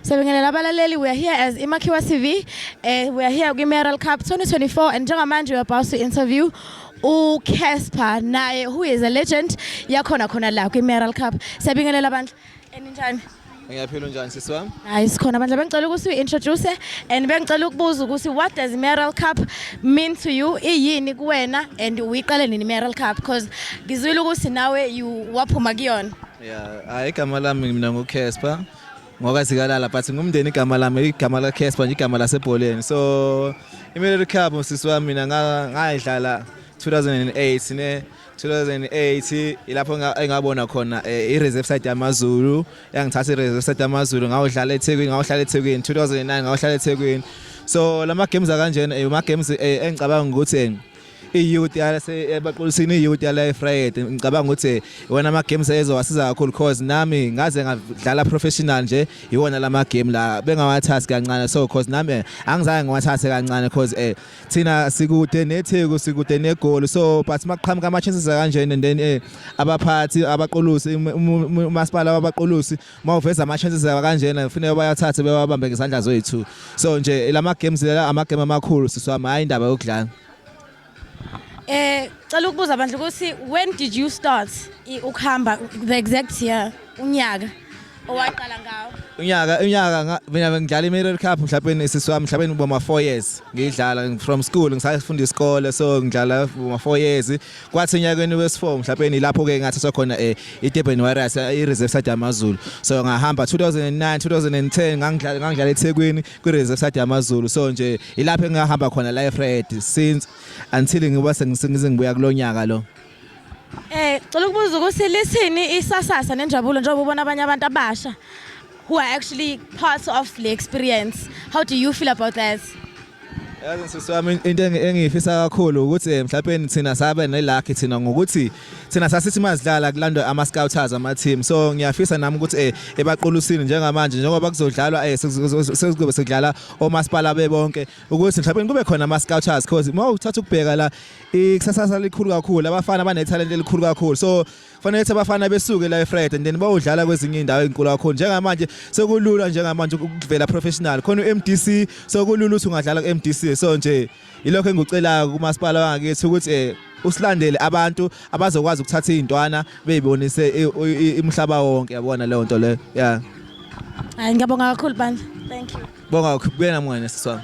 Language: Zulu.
Siyabingelela abalaleli we are here as Imakhiwa TV eh we are here kwi Meral Cup 2024 and njengamanje we are about to interview u Casper naye who is a legend yakhona khona la kwi Meral Cup siyabingelela abantu eninjani Ngiyaphila unjani sisi wami? Hayi sikhona bandla bengicela ukuthi uintroduce and bengicela ukubuza ukuthi what does Meral Cup mean to you? Iyini kuwena and uyiqale nini Meral Cup because ngizwile ukuthi nawe you waphuma kuyona. Yeah, hayi igama lami mina nguCasper. ngoka sikalala but ngumndeni igama lami igama la Casper nje igama lasebholeni so iMilitary Cup sisi wami mina ngayidlala 2008 ne 2008 ilapho engabona khona eh, i-reserve side yamazulu yangithatha i-reserve side yamazulu ngawudlala ethekwini ngawudlala ethekwini 2009 ngawudlala ethekwini so lama games akanjena eh, ama games eh, engicabanga ukuthi iyouth yasebaqulisini iyouth yala efried ngicabanga ukuthi iwona ama-games ezowasiza kakhulu cause nami ngaze ngadlala professional nje iwona la ma-game la bengawathathi kancane so cause nami eh, angizange ngiwathathe kancane cause um thina sikude netheku sikude negoli so but maqhamuka ama-chances akanjena and then um abaphathi abaqulusi umasipala wabaqulusi uma uveza ama chances yawa kanjena kufanele bayathathe bewabambe ngezandla zoyithu so nje lama games la ama game amakhulu siswami hayi indaba yokudlala Eh cela ukubuza abantu ukuthi when did you start ukuhamba the exact year unyaka owaqala ngawo unyaka unyaka mina ngidlala iMirror Cup mhlawumbe isisi wami mhlawumbe ngiboma 4 years ngidlala from school ngisafunda isikole so ngidlala boma 4 years kwathi enyakeni wesi-4 mhlawumbe nilapho-ke ngathathwa khona um idurban warriors i-reserve side yamazulu so ngahamba 2009 2010 ngangidlala ngangidlala ethekwini kwi-reserve side yamazulu so nje ilapho engingahamba khona life red since until ngiba sengize ngibuya kulo nyaka lo Eh, cela ukubuza ukuthi lithini isasasa nenjabulo njengoba ubona abanye abantu abasha who are actually part of the experience. How do you feel about that? Yazi sisi wami into engiyifisa kakhulu ukuthi mhlawumbe nithina sabe nelucky thina ngokuthi thina sasithi mazidlala kulandwe ama scouters ama team so ngiyafisa nami ukuthi eh ebaqulusini njengamanje njengoba kuzodlalwa eh sekuzobe sekudlala omasipala bebonke ukuthi mhlawumbe kube khona ama scouters because uma uthatha ukubheka la ikusasa likhulu kakhulu abafana abanethalente elikhulu kakhulu so fanele ukuthi abafana besuke la eFriday and then bawudlala kwezinye indawo ezinkulu kakhulu njengamanje sekulula njengamanje ukuvela professional khona uMDC sekulula ukuthi ungadlala kuMDC so nje ilokho engikucelayo kumasipala wangakithi ukuthi eh usilandele abantu abazokwazi ukuthatha izintwana beyibonise imhlaba wonke yabona leyo nto leyo yeah Hayi ngiyabonga kakhulu bandla. Thank you. Bonga ukubuyela mngane siswami.